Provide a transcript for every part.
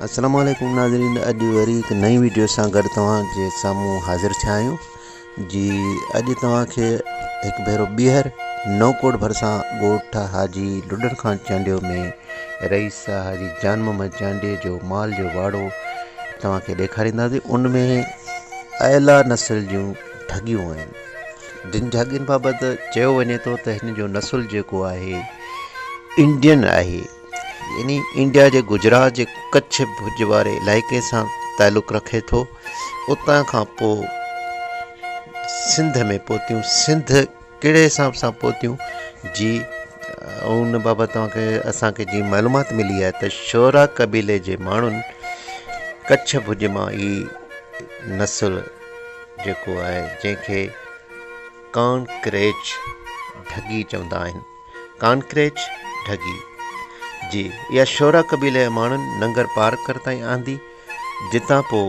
السلام عليڪم ناظرين اڄ وري هڪ نئين ويڊيو سان گڏ توهان جي سامهون حاضر ٿيا آهيون جي اڄ توهان کي هڪ ڀيرو ٻيهر نوڪوٽ ڀرسان ڳوٺ حاجي لڏڻ خان چانڊيو ۾ رئيس حاجي جان محمد چانڊيي جو مال جو واڙو توهان کي ڏيکارينداسين ان ۾ اعليٰ نسل جون ڍڳيون آهن جن ڍڳين بابت چيو وڃي ٿو ته هن جو نسل جيڪو آهي انڊين آهي يعني انڊيا جي گجرات جي ڪڇ ڀڄ واري علائقي سان تعلق رکي ٿو اتان کان پوء سنڌ ۾ پهتيون سنڌ ڪهڙي حساب سان پهتيون جي ان بابت اوهان کي اسان کي جي معلومات ملي آهي ته شعرا قبيلي جي ماڻهن ڪڇ ڀڄ مان هي نسل جيڪو آهي جنهن کي ڪانڪريچ ڍڳي چوندا آهن ڪانڪريچ ڍڳي جي اها شورا قبيلي جي ماڻهن ننگر پارڪر تائين آندي جتان پوء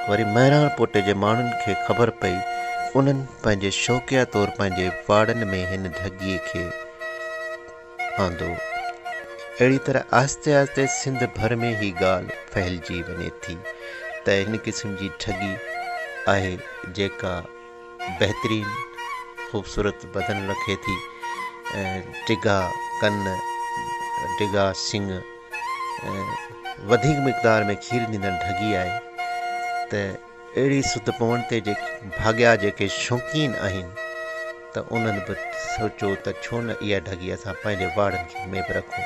وري مهراڻ پوٽي جي ماڻهن کي خبر پئي انهن پنهنجي شوقيا طور پنهنجي واڙن ۾ هن ڍڳي کي آندو اهڙي طرح آهستي آهستي سنڌ ڀر ۾ هي ڳالهه ڦهلجي وڃي ٿي ته هن قسم جي ڍڳي آهي جيڪا بهترين خوبصورت بدن رکي ٿي ڊگها ڪن ڊگها سنگ وڌيڪ مقدار ۾ کير ڏيندڙ ڍڳي آهي ته اهڙي سڌ پوڻ تي جيڪي ڀاڳيا جيڪي شوقين آهن ته انهن به سوچو ته ڇو نه اها ڍڳي اسان پنهنجي واڙن ۾ به رکون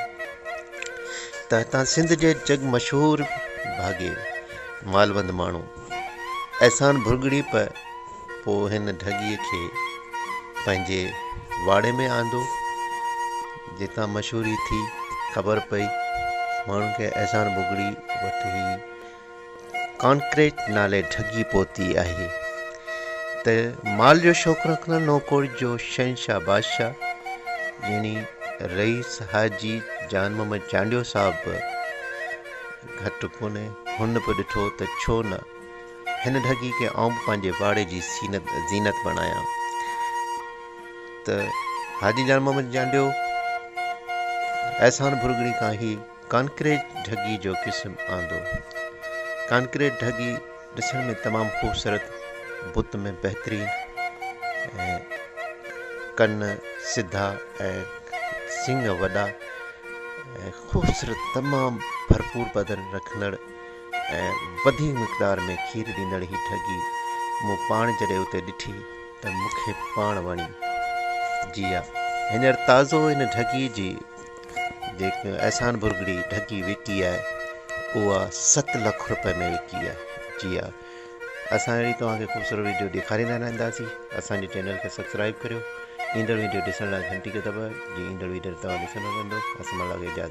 ته هتان سنڌ جي جڳ مشهور ڀاڳي مالوند ماڻهو احسان ڀرڳڙي پ پ هن ڍڳي کي پنهنجي واڙي ۾ آندو جتان مشهوري ٿي خبر پئي ماڻهن کي احسان ڀرڳڙي وٽ هي ڪانڪريٽ نالي ڍڳي پهتي آهي ته مال جو شوق رکندڙ نوڪوٽ جو شهنشاهه بادشاهه يعني رئيس حاجي جان محمد چانڊيو صاحب گهٽ ڪونهي. هن به ڏٺو ته ڇو نه هن ڍڳي کي آئون به پنهنجي واڙي جي زينت بڻايان ته حاجي جان محمد جانڊيو احسان ڀرڳڙي کان هي ڪانڪريٽ ڍڳي جو قسم آندو. ڪانڪريٽ ڍڳي ڏسڻ ۾ تمام خوبصورت بت ۾ بهترين ۽ ڪن سڌا ۽ سنگ وڏا ۽ خوبصورت تمام ڀرپور بدن رکندڙ ۽ وڌيڪ مقدار ۾ کير ڏيندڙ هي ڍڳي مون پاڻ جڏهن اتي ڏٺي ته مون کي پاڻ وڻي جي ها هينئر تازو ان ڍڳي جي جيڪي احسان ڀرڳڙي ڍڳي وڪي آهي اها ست لک روپئي ۾ وڪي آهي جي ها اسان اهڙي توهان کي خوبصورت ويڊيو ڏيکاريندا رهنداسين اسان جي چينل کي سبسڪرائب ڪريو ايندڙ ويڊيو ڏسڻ لاء گهنٽي کي دٻايو جي ايندڙ ويڊيو توهان ڏسڻ ۾ ايندو اسان مان اجازت